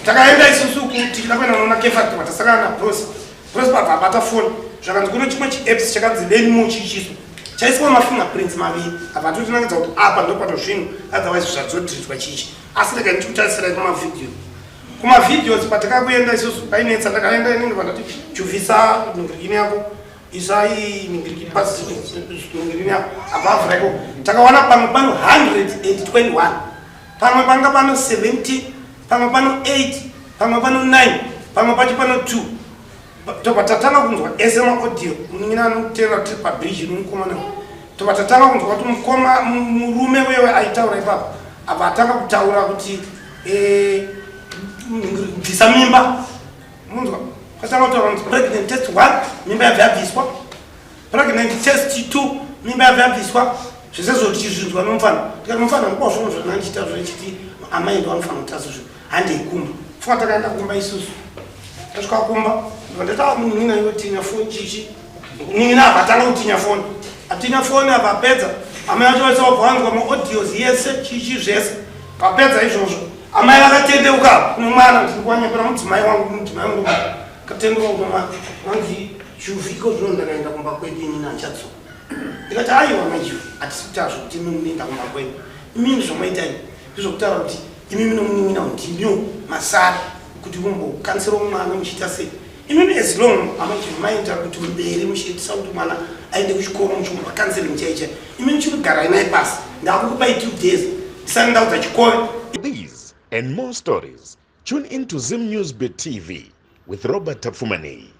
takaenda isusu kuti takuenda noona kefactor vatasakana na bros bros bva abata foni zvakanzi kuno chimwe chiapps chakanzi leni mo chichiso chaiswa mafinger prints maviri apa totinangidza kuti apa ndopato zvinhu otherwise zvadzodhiritwa chichi asi rega nditi kutarisira kumavideo kumavideos patakakuenda isusu painetsa ndakaenda inenge vandati chuvisa ningirikini yako isai ningirikini pasi ningirikini yako above reko takawana pamwe pano 121 pamwe panga pano 17 pamwe pano 8 pamwe pano 9 pamwe pacho pano 2 tobva tatanga kunzwa ese maaudio munin'ina anotera tiri pabridge nomukomana tobva tatanga kunzwa kuti mukoma murume wewe aitaura ipapa apa atanga kutaura kuti eh, bvisa mimba munzwa kwatanga kutaura kuti pregnant test one mimba yabva yabviswa pregnant test 2 mimba yabva yabviswa zvese zvoti chizvinzwa nomufana tikati mufana nguva zvono zvanandichita zvochiti amai ndo anofana kuti asi zvo handei kumba pfuka takaenda kumba isusu tasvika kumba ndatawa munhu nina yotinya foni chichi nina avatanga kutinya foni atinya foni avapedza amai acho vaisa wabva wanzwa maaudios yese chichi zvese vapedza izvozvo amai vakatendeuka kuno mwana ndiri kuwanyepera mudzimai wangu mudzimai wangu katendeuka kuno mwana wanzii Juvi iko zvino ndakaenda kumba kwedu ini naChatso. Ndikati aiwa mai Juvi hatisi kutaura zvokuti imi munoenda kumba kwedu. Imimi zvomaita ini ndizvokutaura kuti imimi nomunin'ina ndimio masara kuti mumbokanisira mwana muchiita sei. Imimi as long amai Juvi maenda kuti mberi muchiitisa kuti mwana aende kuchikoro muchimupa counseling chai chai. Imimi chikugarai naye pasi ndakukupai two days ndisati ndaudza chikove. These and more stories tune in to Zim News Beat TV with Robert Tapfumanei.